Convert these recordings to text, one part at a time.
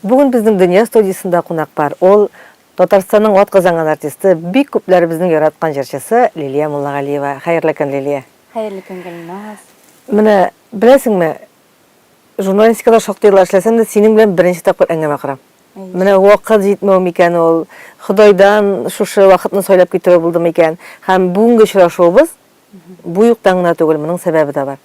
Бүген безнең Дөнья студиясендә кунак бар. Ул Татарстанның атказанган артисты, бик күпләребезнең яраткан җырчысы Лилия Муллагалиева. Хәерле көн, Лилия. Хәерле көн, Гөлназ. Менә беләсеңме, журналистикада шактый еллар эшләсәм дә, синең белән беренче тапкыр әңгәмә корам. Менә вакыт җитмәү микән ул, Ходайдан шушы вакытны сайлап китерү булдымы икән? Һәм бүгенге очрашуыбыз бу юктан гына түгел, моның сәбәбе дә бар.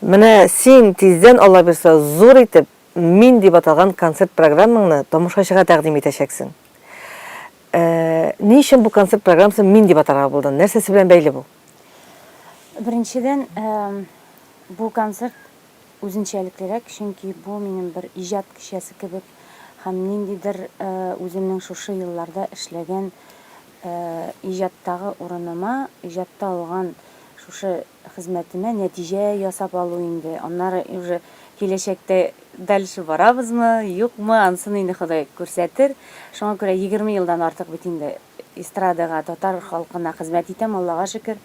Менә син тиздән, Алла бирса, зур итеп Мин дип аталган концерт программаңны тамашачыга тәкъдим итәчәксең. Ә, ни өчен бу концерт программасын Мин дип атарга булдың? Нәрсәсе белән бәйле бу? Беренчедән, бу концерт үзенчәлеклерәк, чөнки бу минем бер иҗат кичәсе кебек һәм ниндидер үземнең шушы елларда эшләгән иҗаттагы урыныма, иҗатта алган шушы хезмәтенә нәтиҗә ясап алу инде, аннары уже киләчәктә дальше барабызмы, юкмы, ансын инде Ходай күрсәтер. Шуңа күрә егерме елдан артык бит инде эстрадага, татар халкына хезмәт итәм, Аллага шөкер.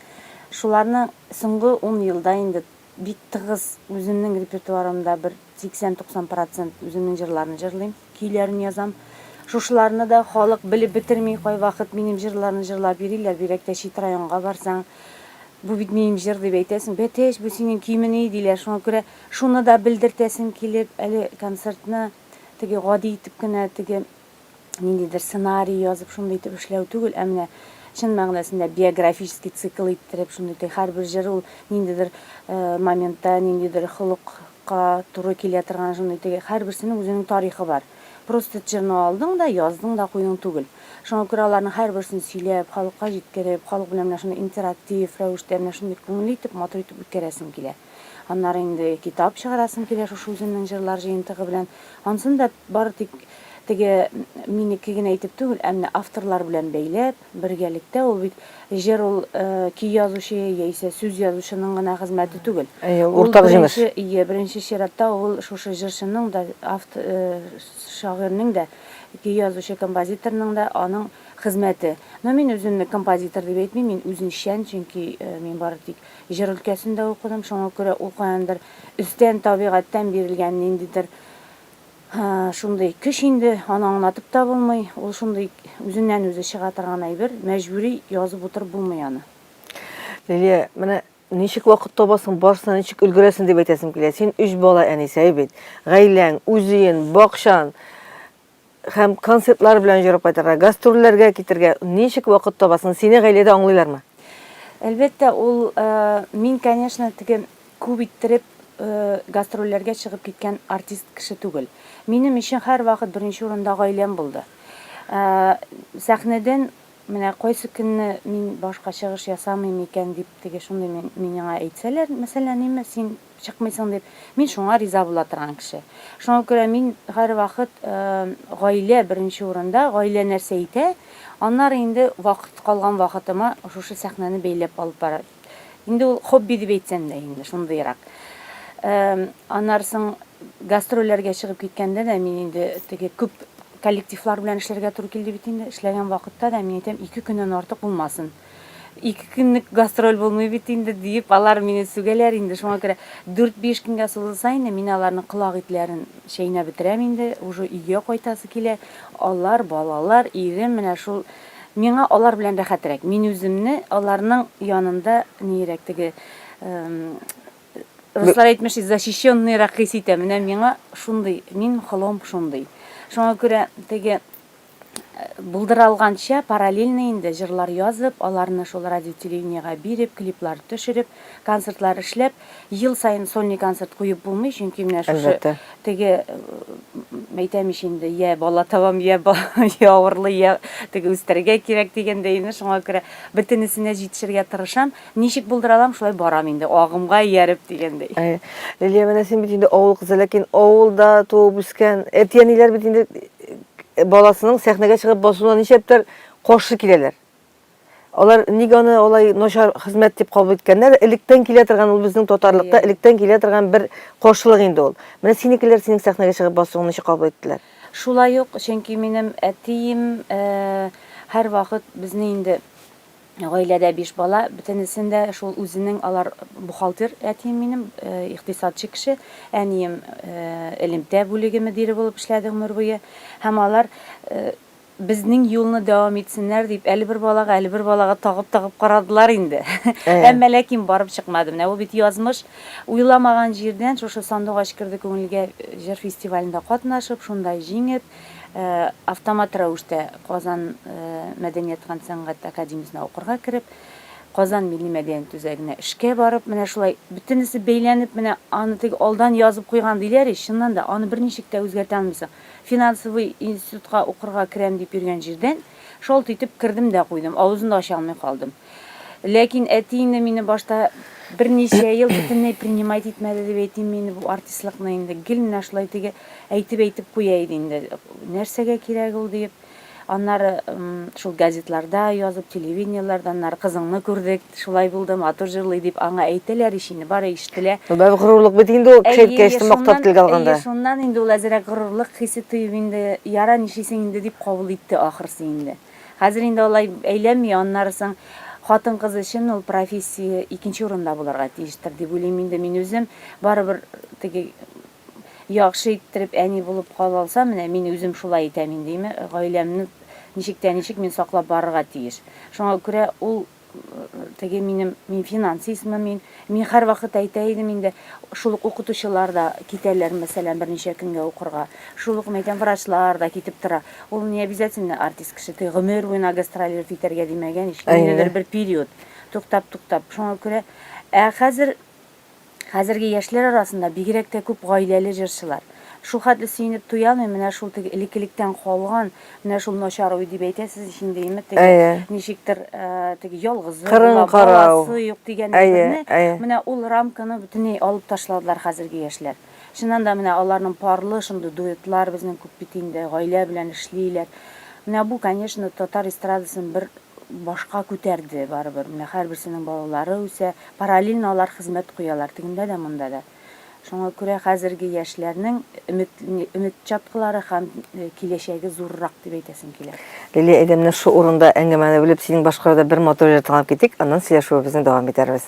Шуларны соңгы ун елда инде бик тыгыз үземнең репертуарымда бер сиксән-туксан процент үземнең җырларны җырлыйм. көйләрен язам. Шушыларны да халык белеп бетерми, кайвакыт минем җырларны җырлап йөриләр, бигрәк тә чит районга барсаң, бу бит минем җыр дип әйтәсең, Бәтеш, бу синең көймени, диләр, шуңа күрә шуны да белдертәсем килеп, әле концертны теге гади итеп кенә, теге ниндидер сценарий язып, шундый итеп эшләү түгел, ә менә чын мәгънәсендә биографический цикл иттереп, шундый итеп, һәрбер җыр ул ниндидер моментта, ниндидер холык ка туры килә торган шундый теге һәрберсенең үзенең тарихы бар. Просто черно алдың да, яздың да куйдың түгел. Шуңа күрә аларның һәрберсен сөйләп, халыкка җиткереп, халык белән менә шундый интерактив рәвештә, менә шундый күңелле итеп, матур итеп үткәрәсем килә. Аннары инде китап чыгарасым килә шушы үземнең җырлар җыентыгы белән. Ансын да бары тик теге минеке генә итеп түгел, ә менә авторлар белән бәйләп, Бергәлектә, ул бит җыр ул көй язучы яисә сүз язучының гына хезмәте түгел. Әйе, уртак җимеш. Әйе, беренче чиратта ул шушы җырчының да, авт, шагыйрьнең дә, көй язучы композиторның да аның хезмәте. Но мин үземне композитор дип әйтмим, мин үзенчән, чөнки мин бары тик җыр өлкәсендә укыдым, шуңа күрә ул каяндыр өстән, табигатьтән бирелгән ниндидер Һа, шундый көч инде, аны аңлатып та булмый. Ул шундый үзеннән-үзе чыга торган әйбер, мәҗбүри язып утырып булмый аны. Лилия, менә ничек вакыт табасың, барысына ничек өлгерәсең дип әйтәсем килә. Син өч бала әнисае бит. Гаиләң, үзеен, бакчан һәм концертлар белән җорап кайтырга, гастрольләргә китергә ничек вакыт табасың? Сине гаиләдә аңлыйлармы? Әлбәттә, ул мин, конечно, теге Күп иттереп гастрольләргә чыгып киткән артист кеше түгел. Минем өчен һәрвакыт беренче урында гаиләм булды. Сәхнәдән менә кайсы көнне мин башка чыгыш ясамыйм икән дип теге шундый миңа әйтсәләр, мәсәлән, ниме, син чыкмыйсың дип, мин шуңа риза була торган кеше. Шуңа күрә мин һәрвакыт гаилә беренче урында, гаилә нәрсә әйтә, аннары инде вакыт, калган вакытыма шушы сәхнәне бәйләп алып Инде ул хобби дип әйтсәм дә инде шундыйрак. Анарсың гастрольләргә чыгып киткәндә дә мин инде теге күп коллективлар белән эшләргә туры килде бит инде. Эшләгән вакытта да мин әйтәм, ике көннән артык булмасын. Ике көнлек гастроль булмый бит инде диеп, алар мине сүгәләр инде. Шуңа күрә 4-5 көнгә сузылса инде, мин аларның колак итләрен чәйнәп бетерәм инде, уже өйгә кайтасы килә. Алар, балалар, ирем менә шул Миңа алар белән рәхәтрәк. Мин үземне аларның янында ниерәк теге руслар әйтмеши защищенныйрак хис итәм. Менә миңа шундый, мин холом шундый. Шуңа күрә теге булдыра алганча параллельно инде җырлар язып, аларны шул радио телевидениега биреп, клиплар төшереп, концертлар эшләп, Ел саен сольный концерт куеп булмый, чөнки менә шушы теге әйтәм ич инде, я бала табам, я я авырлы, я теге үстәргә кирәк дигәндәй инде шуңа күрә бөтенесенә җитешергә тырышам. Ничек булдыра алам, шулай барам инде, агымга ияреп дигәндәй. Әй, Лилия, менә син бит инде авыл кызы, ләкин авылда туып үскән әти-әниләр бит инде баласының сәхнәгә чыгып басуына ничәптер каршы киләләр. Алар ник аны алай начар хезмәт дип кабул иткәннәр? Электән килә торган ул безнең татарлыкта yeah. электән килә торган бер каршылык инде ул. Менә синекеләр синең сәхнәгә чыгып басуыңны ничек кабул иттеләр? Шулай ук, чөнки минем әтием һәрвакыт безне инде гаиләдә биш бала, бөтенесен дә шул үзенең алар бухгалтер әтием минем, икътисадчы кеше, әнием элемтә бүлеге мөдире булып эшләде гомер буе. Һәм алар Безнең юлны дәвам итсеннәр дип, әле бер балага, әле бер балага тагып-тагып карадылар инде. Әмма ләкин барып чыкмады. Менә бу бит язмыш. Уйламаган җирдән шушы Сандугач керде күңелгә җыр фестивалендә катнашып, шунда җиңеп, автомат рәвештә Казан мәдәният һәм сәнгать академиясенә укырга кереп, Казан милли мәдәният үзәгенә эшкә барып, менә шулай бөтенесе бәйләнеп, менә аны теге алдан язып куйган диләр ич, чыннан да, аны берничек тә үзгәртә алмыйсың. Финансовый институтка укырга керәм дип йөргән җирдән, шалт итеп, кердем дә куйдым, авызын да ача алмый калдым. Ләкин әти инде мине башта берничә ел бөтенләй принимать итмәде дип әйтимме инде бу артистлыкны инде, гел менә шулай теге әйтеп-әйтеп куя иде инде, нәрсәгә кирәк ул диеп. Аннары шул газетларда язып, телевидениеләрдә, аннары кызыңны күрдек, шулай булды, матур җырлый дип аңа әйтәләр ич инде, бары ишетелә. Бәр горурлык бит инде ул кеше әйткәч, мактап телгә алганда. Әйе, шуннан инде ул әзерәк горурлык хисе тоеп инде, яра, нишлисең инде дип кабул итте ахрысы инде. Хәзер инде алай әйләнми, аннары соң хатын-кыз өчен ул профессия икенче урында булырга тиештер дип уйлыйм инде мин үзем. Барыбер теге яхшы иттереп әни булып кала алсам, менә мин үзем шулай итәм инде, име, гаиләмне ничек тә ничек мин саклап барырга тиеш. Шуңа күрә ул теге минем, мин финансистмы мин, мин һәрвакыт әйтә идем инде, шул ук укытучылар да китәләр, мәсәлән, берничә көнгә укырга, шул ук, мәйтәм, врачлар да китеп тора. Ул не обязательно артист кеше, теге гомер буена гастролировать итәргә димәгән ич, ниндидер бер период, туктап-туктап. Шуңа күрә, ә хәзер Хәзерге яшьләр арасында бигрәк тә күп гаиләле җырчылар. Шул хәтле сөенеп туямыйм, менә шул теге элеккелектән калган, менә шул начар уй дип әйтәсез ич инде, име, теге Әйе. ничектер теге ялгызы була, Кырын карау. баласы юк дигән әйберне, Әйе, әйе. менә ул рамканы бөтенләй алып ташладылар хәзерге яшьләр. Чыннан да, менә аларның парлы шундый дуэтлар безнең күп бит инде, гаилә белән эшлиләр. Менә бу, конечно, татар эстрадасын бер башка күтәрде барыбер. Менә һәрберсенең балалары үсә, параллельно алар хезмәт куялар тегендә дә, монда да. Шуңа күрә хәзерге яшьләрнең өмет, өмет чаткылары һәм киләчәге зуррак дип әйтәсем килә. Лилия әйдә менә шул урында әңгәмәне бүлеп синең башкаруда бер матур җыр тыңлап китик, аннан сөйләшүебезне дәвам итәрбез.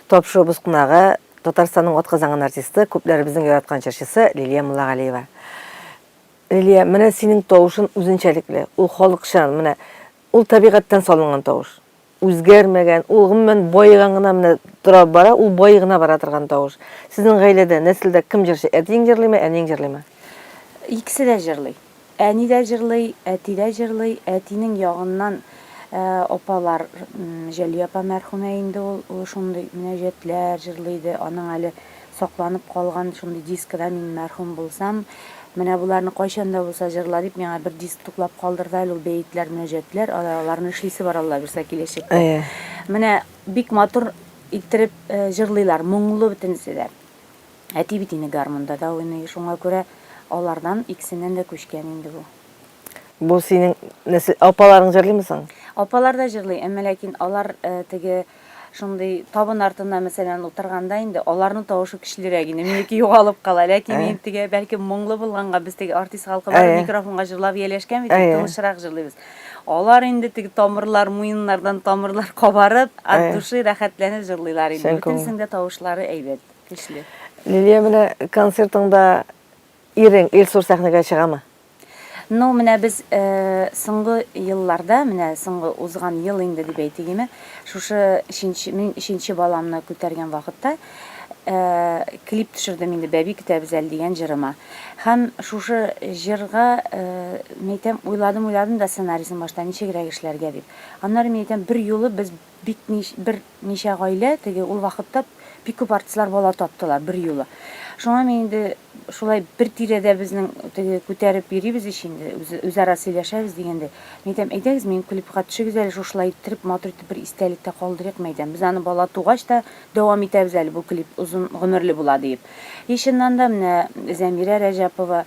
Тапшыруыбыз кунагы, Татарстанның атказанган артисты, күпләребезнең яраткан җырчысы Лилия Муллагалиева. Лилия, менә синең тавышын үзенчәлекле, ул халыкчан, менә ул табигатьтән салынган тавыш. Үзгәрмәгән, ул гомумән баеган гына менә тора бара, ул баи гына бара торган тавыш. Сезнең гаиләдә, нәселдә кем җырчы, әтиең җырлыймы, әниең җырлыймы? Икесе дә җырлый. Әни дә җырлый, әти дә җырлый, әтинең ягыннан апалар, Җәлия апа мәрхүмә инде ул шундый мөнәҗәтләр җырлый иде, аның әле сакланып калган шундый дискы да мин мәрхүм булсам, менә боларны кайчан да булса җырла дип миңа бер диск туплап калдырды әле ул бәетләр, мөнәҗәтләр, аларны эшлисе бар Алла бирсә киләчәктә. Менә бик матур иттереп җырлыйлар, моңлы бөтенесе дә. Әти бит инде гармунда да уйный, шуңа күрә алардан икесеннән дә күчкән инде бу. Бу синең нәсел, апаларың җырлыймы соң? Апалар да җырлый, әмма ләкин алар теге шундый табын артына мәсәлән утырганда инде аларның тавышы көчлерәк инде, минеке югалып кала. Ләкин мин теге бәлки моңлы булганга, без теге артист халкы бар, микрофонга җырлап ияләшкән бит, тынычрак җырлыйбыз. Алар инде теге тамырлар, муеннардан тамырлар кабарып, от души рәхәтләнеп җырлыйлар инде. Бөтенесенең дә тавышлары әйбәт. Көчле. Лилия, менә концертыңда ирең Илсур сәхнәгә чыгамы? Ну, менә без э, соңгы елларда, менә соңгы узган ел инде дип әйтегеме, шушы өченче, мин өченче баламны күтәргән вакытта э, клип төшердем инде бәби көтәбез әле дигән җырыма. Һәм шушы җырга э, мәйтәм уйладым, уйладым да сценарийсын башта ничегрәк эшләргә дип. Аннары мәйтәм бер юлы без бик бер Ничә гаилә теге ул вакытта бик күп артистлар бала таптылар берьюлы. Шуңа мин инде шулай бер тирәдә безнең теге күтәреп йөрибез ич инде, үзара сөйләшәбез дигәндәй. Мин әйтәм, әйдәгез, минем клипка төшегез әле, шушылай иттереп, матур итеп бер истәлек тә калдырыйкмы, әйтәм. Без аны бала тугач та дәвам итәбез әле, бу клип озын гомерле була, диеп. И чыннан да, менә Зәмирә Рәҗәпова,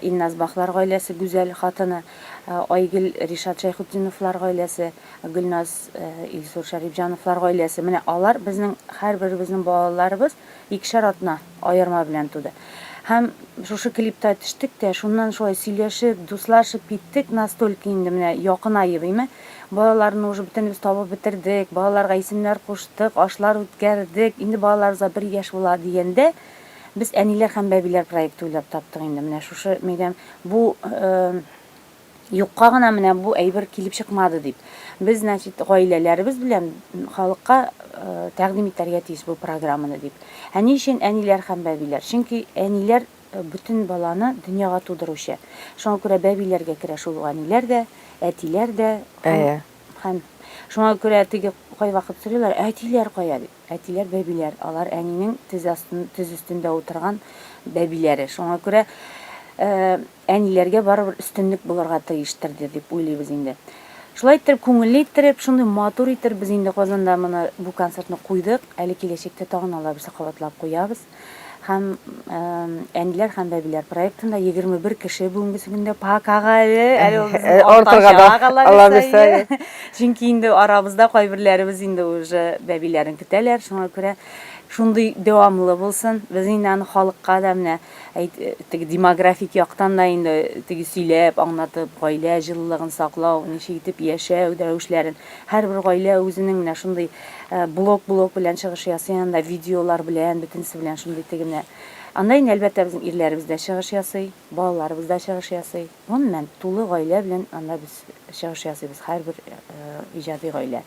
Илназ Бахлар гаиләсе, Гүзәл хатыны, Айгөл Ришат Шәйхутдиновлар гаиләсе, Гөлназ, э, Илсур Шәрипҗановлар гаиләсе. Менә алар безнең һәрберебезнең балаларыбыз икешәр атна аерма белән туды. Һәм шушы клипта төштек тә, шуннан шулай сөйләшеп, дуслашып киттек, настолько инде менә якынаеп, име. Балаларны уже бөтенебез табып бетердек, балаларга исемнәр куштык, ашлар үткәрдек. Инде балаларыбызга бер яшь була дигәндә, без әниләр һәм бәбиләр проекты уйлап таптык инде. Менә шушы, мәйдәм, бу э, Юкка гына менә бу әйбер килеп чыкмады дип. Без, значит, гаиләләребез белән халыкка тәкъдим итәргә тиеш бу программаны дип. Ә ни өчен әниләр һәм бәбиләр? Чөнки әниләр бөтен баланы дөньяга тудыручы. Шуңа күрә бәбиләргә керә шул ук әниләр дә, әтиләр дә. Әйе. Һәм шуңа күрә теге кайвакыт сорыйлар, әтиләр кая дип. Әтиләр, бәбиләр, алар әнинең тез астын, тез өстендә утырган бәбиләре. Шуңа күрә Әниләргә барыбер өстенлек булырга тиештер дә дип уйлыйбыз инде. Шулай иттереп, күңелле иттереп, шундый матур иттереп без инде Казанда моны, бу концертны куйдык. Әле киләчәктә тагын алабыз, кабатлап куябыз. Һәм Әниләр һәм бәбиләр проектында 21 кеше бүгенгесе көндә пока-га әле, әле ул безнең Э, артырга да, уртача кала Алла бирсә, бирсә, әйе. әйе. Чөнки инде арабызда кайберләребез инде уже бәбиләрен көтәләр, шуңа күрә шундый дәвамлы булсын. Без инде аны халыкка да менә Әйт, теге демографик яктан да инде теге сөйләп, аңлатып, гаилә җылылыгын саклау, ничек итеп яшәү рәвешләрен. Һәрбер гаилә үзенең менә шундый э, блок-блок белән чыгыш ясый анда, видеолар белән, бөтенесе белән шундый теге менә. Анда инде, әлбәттә, безнең ирләребез дә чыгыш ясый, балаларыбыз да чыгыш ясый. Гомумән, тулы гаилә белән анда без чыгыш ясыйбыз, һәрбер иҗади гаилә.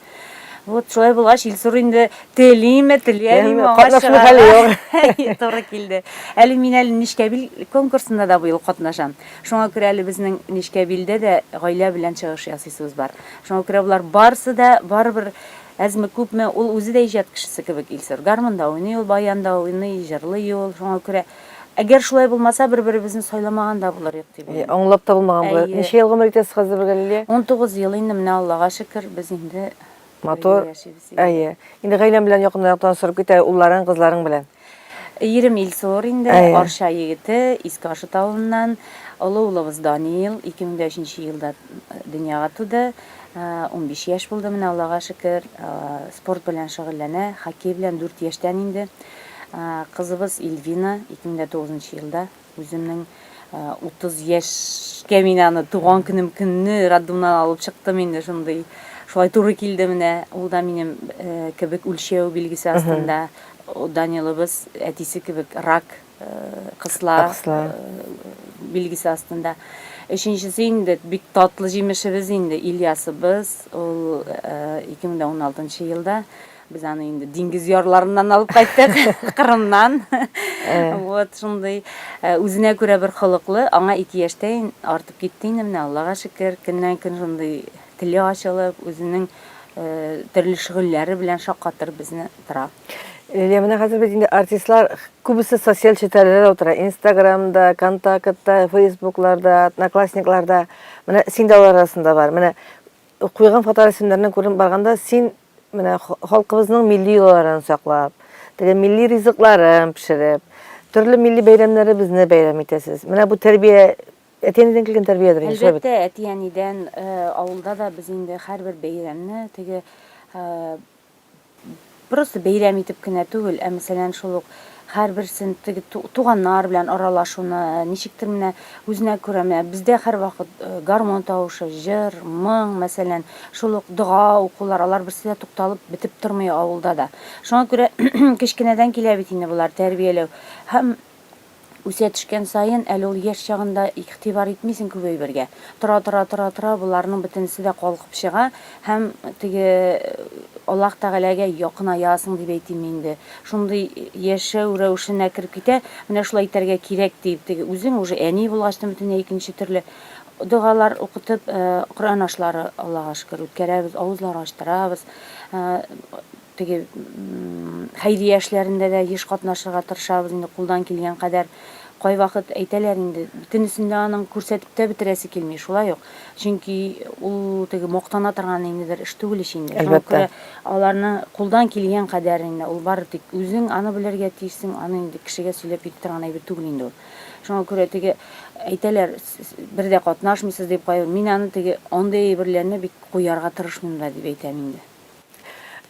Вот шулай булгач, Илсур инде телиме, телиәмиме, аңа чыгарга туры килде. Әле мин әле Нечкәбил конкурсында да быел катнашам. Шуңа күрә әле безнең Нечкәбилдә дә гаилә белән чыгыш ясыйсыбыз бар. Шуңа күрә болар барысы да барыбер әзме күпме ул үзе дә иҗат кешесе кебек Илсур. Гармунда уйный ул, баянда уйный, җырлый ул. Шуңа күрә Әгәр шулай булмаса, бер-беребезне сайламаган да булыр идек дип уйлыйм. Аңлап та булмаган булыр. Ничә ел гомер итәсез хәзер бергә, Лилия? 19 ел инде, менә Аллага шөкер, без инде матур яшибез. Әйе. Инде гаиләң белән якыннарак танышырып кит, улларың, кызларың белән. Ирем Илсур инде, Арча егете, Иске Ашыт авылыннан. Олы улыбыз Данил, 2003 елда дөньяга туды. 15 яшь булды, менә Аллага шөкер, спорт белән шөгыльләнә, хоккей белән 4 яшьтән инде. Кызыбыз Ильвина 2009 нчы елда үземнең 30 яшькә мин аны туган көнем көнне роддомнан алып чыктым инде шундый. Шулай туры килде менә. Ул да минем кебек үлчәү билгесе астында. Данилыбыз әтисе кебек рак кысла билгесе астында. Өченчесе инде бик татлы җимешебез инде Ильясыбыз. Ул 2016 елда. Без аны инде диңгез ярларыннан алып кайттык, Кырымнан. Вот шундый э, үзенә күрә бер холыклы, аңа ике яшьтән артып китте инде менә Аллага шөкер, көннән көн шундый теле ачылып, үзенең э, төрле шөгыльләре белән шаккатыр безне тора. Лилия, э, менә хәзер бит инде артистлар күбесе социаль челтәрләрдә утыра. Инстаграмда, контактта, фейсбукларда, одноклассникларда. Менә син дә алар арасында бар. Менә куйган фоторәсемнәреннән күренеп барганда, син Менә халкыбызның милли йолаларын саклап, теге милли ризыкларын пешереп, төрле милли бәйрәмнәребезне бәйрәм итәсез. Менә бу тәрбия әти-әнидән килгән тәрбиядер инде. Әлбәттә, әти-әнидән, э, авылда да без инде һәрбер бәйрәмне теге, э, просто бәйрәм итеп кенә түгел, ә мәсәлән шул ук Һәрберсен теге туганнар белән аралашуны, ничектер менә үзенә күрә менә бездә һәрвакыт гармон тавышы, җыр, моң, мәсәлән, шул ук дога укулар, алар берсе дә тукталып бетеп тормый авылда да. Шуңа күрә кечкенәдән килә бит инде болар тәрбияләү. Һәм үсә төшкән саен, әле ул яшь чагында игътибар итмисең күп әйбергә. Тора-тора-тора-тора боларның бөтенесе дә калкып чыга. Һәм теге Аллаһ Тәгаләгә якынаясың дип әйтимме инде, шундый яшәү рәвешенә кереп китә, менә шулай итәргә кирәк диеп, теге үзең уже әни булгач та бөтенләй икенче төрле догалар укытып, Коръән ашлары, Аллага шөкер, үткәрәбез, авызлар ачтырабыз. Теге хәйрия эшләрендә дә еш катнашырга тырышабыз инде кулдан килгән кадәр. Кайвакыт әйтәләр инде, бөтенесен дә аның күрсәтеп тә бетерәсе килми, шулай ук. Чөнки ул теге мактана торган инде бер эш түгел ич инде. Шуңа күрә аларны кулдан килгән кадәр инде ул бары тик үзең аны белергә тиешсең, аны инде кешегә сөйләп җитә торган әйбер түгел инде ул. Шуңа күрә теге әйтәләр, бер дә катнашмыйсыз дип, кайбер мин аны теге андый әйберләрне бик куярга тырышмыйм да дип әйтәм инде.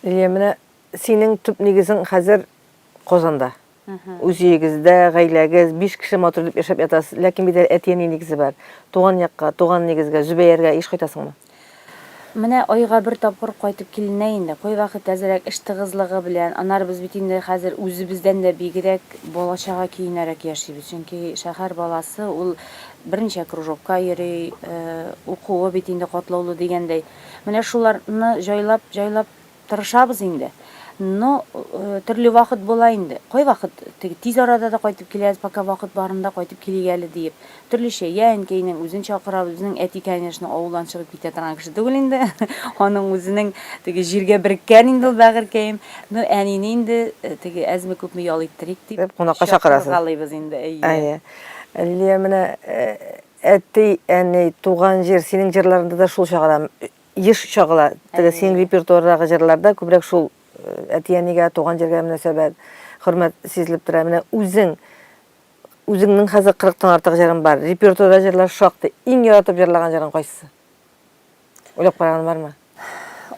Лилия, менә синең төп нигезең хәзер Казанда. Үз өегездә, гаиләгез, биш кеше матур итеп яшәп ятасыз. Ләкин бит әле әти-әни нигезе бар. Туган якка, туган нигезгә, Зөбәяргә еш кайтасыңмы? Менә айга бер тапкыр кайтып киленә инде. Кайвакыт әзрәк эш тыгызлыгы белән, аннары без бит инде хәзер үзебездән дә бигрәк бала-чага көенәрәк яшибез. Чөнки шәһәр баласы, ул берничә кружокка йөри, укуы бит инде катлаулы дигәндәй. Менә шуларны җайлап җайлап тырышабыз инде. Но төрле вакыт була инде. Кайвакыт теге тиз арада да кайтып киләбез, пока вакыт барында кайтып килик әле диеп. Төрлечә, я әнкәйнең үзен чакырабыз, безнең әти, конечно, авылдан чыгып китә торган кеше түгел инде. Аның үзенең теге җиргә береккән инде ул бәгырькәем. Ну, әнине инде теге әзме-күпме ял иттерик дип, Дип кунакка чакырасыз. чакыргалыйбыз инде, әйе. Әйе. Лилия, менә Әти, әни, туган җир, синең җырларында да шул чагыла, еш чагыла. Теге синең репертуардагы җырларда күбрәк шул әти, әнигә, туган җиргә мөнәсәбәт, хөрмәт сизелеп тора. Менә үзең, үзеңнең хәзер 40 тан артык җырың бар. Репертуарда җырлар шактый. Иң яратып җырлаган җырың кайсы? Уйлап караган бармы?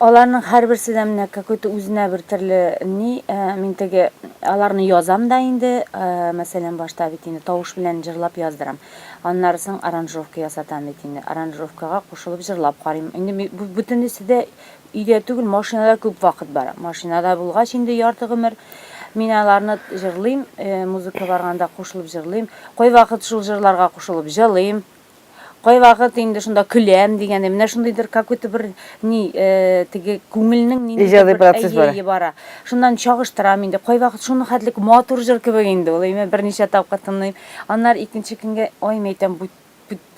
Аларның һәрберсе дә менә какой-то үзенә бер төрле ни, э, мин теге аларны язам да инде, э, мәсәлән, башта бит инде тавыш белән җырлап яздырам. Аннары соң аранжировка ясатам бит инде. Аранжировкага кушылып җырлап карыйм. Инде бу бөтенесе дә өйдә түгел, машинада күп вакыт бара. Машинада булгач инде ярты гомер мин аларны җырлыйм, э, музыка барганда кушылып җырлыйм. Кайвакыт шул җырларга кушылып җылыйм. Кайвакыт инде шунда көләм дигәндәй, менә шундыйдыр какой-то бер ни, теге күңелнең ниндидер бер әйе бара. Шуннан чагыштырам инде. Кайвакыт шуны хәтлек матур җыр кебек инде ул. Әйме берничә тапкыр тыңлыйм. Аннары икенче көнгә ай мәйтәм бу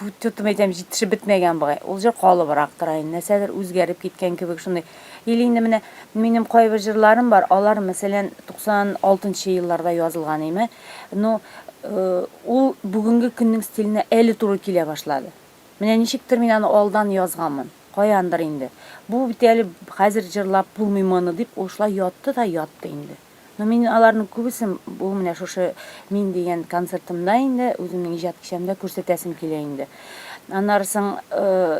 бу тотым әйтәм җитешеп бетмәгән бугай. Ул җыр калыбрак тора инде. Нәрсәдер үзгәреп киткән кебек шундый. Или инде менә минем кайбер җырларым бар. Алар мәсәлән 96 нчы елларда язылган әйме. Но ул бүгенге көннең стиленә әле туры килә башлады. Менә ничектер мин аны алдан язганмын. Каяндыр инде. Бу бит әле хәзер җырлап булмый моны дип, ул шулай ятты да ятты инде. Но мин аларның күбесен бу менә шушы мин дигән концертымда инде, үземнең иҗат кичәмдә күрсәтәсем килә инде. Аннары соң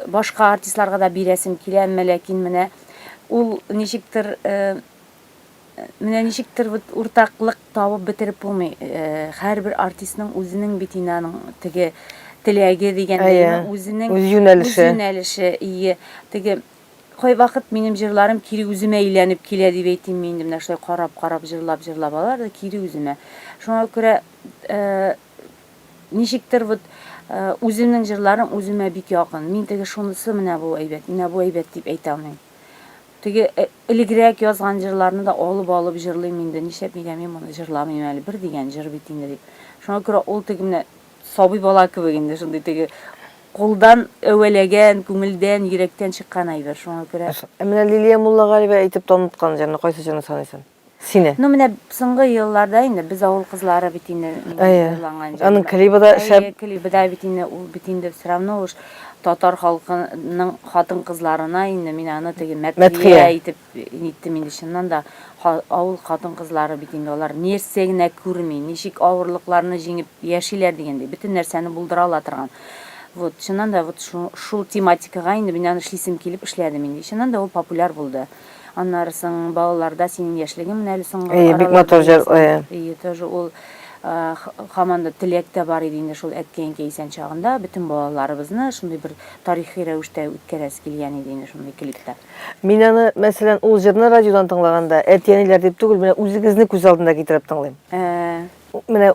башка артистларга да бирәсем килә, әмма ләкин менә ул ничектер Менә ничектер вот уртаклык табып бетереп булмый. Һәрбер артистның үзенең бит инде аның теге теләге дигәндәйме, үзенең үз юнәлеше. Юнәлеше, ие. Теге кайвакыт минем җырларым кире үземә әйләнеп килә дип әйтим мин инде менә шулай карап-карап җырлап-җырлап алар да кире үземә. Шуңа күрә ничектер вот үземнең җырларым үземә бик якын. Мин теге шунысы менә бу әйбәт, менә бу әйбәт дип әйтә алмыйм. Теге элегрәк язган җырларны да алып-алып җырлыйм инде, нишләп нигә мин моны җырламыйм әле, бер дигән җыр бит инде дип. Шуңа күрә ул теге менә сабый бала кебек инде, шундый теге кулдан әвәләгән, күңелдән, йөрәктән чыккан әйбер, шуңа күрә. Ә менә Лилия Муллагалиева әйтеп таныткан җырны кайсы җырны саныйсың? Сине. Ну менә соңгы елларда инде без авыл кызлары бит инде җырланган җыр. Аның клибы да шәп. Әйе, клибы да бит инде ул бит инде все равно уж татар халкының хатын-кызларына инде мин аны теге мәтхия итеп ниттем инде чыннан да авыл хатын-кызлары бит инде алар нәрсә генә күрми, ничек авырлыкларны җиңеп яшиләр дигәндәй, бөтен нәрсәне булдыра ала торган. Вот, чыннан да вот шул тематикага инде мин аны эшлисем килеп эшләдем инде. Чыннан да ул популяр булды. Аннары соң балаларда синең яшьлегең менә әле соңгы Әйе, бик матур җыр, әйе. Әйе, тоже ул хаман да теләк тә бар иде инде шул әткәй-әнкәй исән чагында бөтен балаларыбызны шундый бер тарихи рәвештә үткәрәсе килгән иде инде шундый клипта. Мин аны, мәсәлән, ул җырны радиодан тыңлаганда, әти-әниләр дип түгел, менә үзегезне күз алдына китереп тыңлыйм. Ә. Менә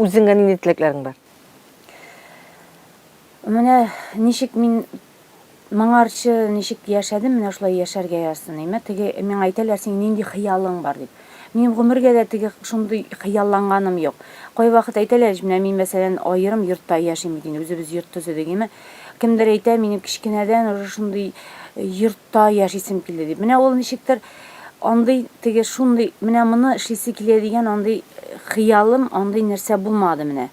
Үзеңә нинди теләкләрең бар? Менә ничек мин моңарчы ничек яшәдем, менә шулай яшәргә язсын. Әмма теге миңа әйтәләр, синең нинди хыялың бар дип. Минем гомергә дә теге шундый хыялланганым юк. Кайвакыт әйтәләр, менә мин мәсәлән аерым йортта яшим бит инде, үзебез йорт төзедек. Әмма кемдер әйтә, минем кечкенәдән уже шундый йорт Та яшисем килде, ди. Менә ул ничектер андый теге шундый, менә моны эшлисе килә дигән андый хыялым, андый нәрсә булмады менә.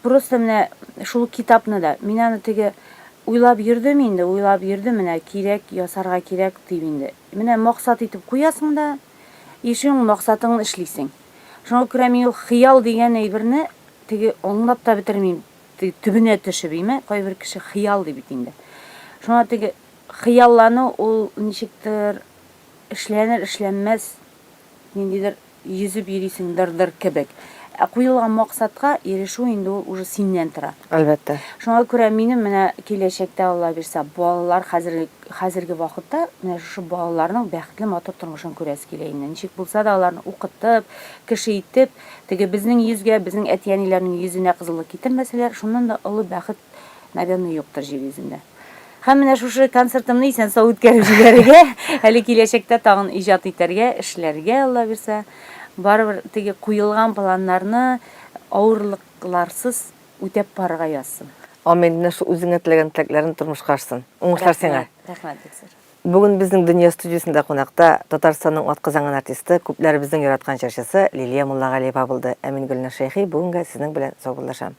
Просто менә шул китапны да, мин аны теге уйлап йөрдем инде, уйлап йөрдем, менә кирәк, ясарга кирәк дип инде. Менә максат итеп куясың да, и шуның максатыңны эшлисең. Шуңа күрә мин ул хыял дигән әйберне теге аңлап та бетермим, теге төбенә төшеп, име, кайбер кеше хыял ди бит инде. Шуңа теге Хыяллану ул ничектер эшләнер-эшләнмәс ниндидер йөзеп йөрисең дыр-дыр кебек. Ә куелган максатка ирешү инде ул уже синнән тора. Әлбәттә. Шуңа күрә минем менә киләчәктә Алла бирсә, балалар хәзерге хәзерге вакытта менә шушы балаларның бәхетле матур тормышын күрәсе килә инде. Ничек булса да аларны укытып, кеше итеп, теге безнең йөзгә, безнең әти-әниләрнең йөзенә кызыллык китермәсәләр, шуннан да олы бәхет, наверное, юктыр җир йөзендә. Һәм менә шушы концертымны исән-сау үткәреп җибәрергә, әле киләчәктә тагын иҗат итәргә, эшләргә, Алла бирсә. Барыбер теге куелган планнарны авырлыкларсыз үтәп барырга язсын. Амин, менә шул үзеңә теләгән теләкләрен тормышка ашсын. Уңышлар сиңа. Рәхмәт, бик зур. Бүген безнең Дөнья студиясендә кунакта Татарстанның атказанган артисты, күпләребезнең яраткан җырчысы Лилия Муллагалиева булды. Ә мин Гөлназ Шәйхи бүгенгә сезнең белән саубуллашам.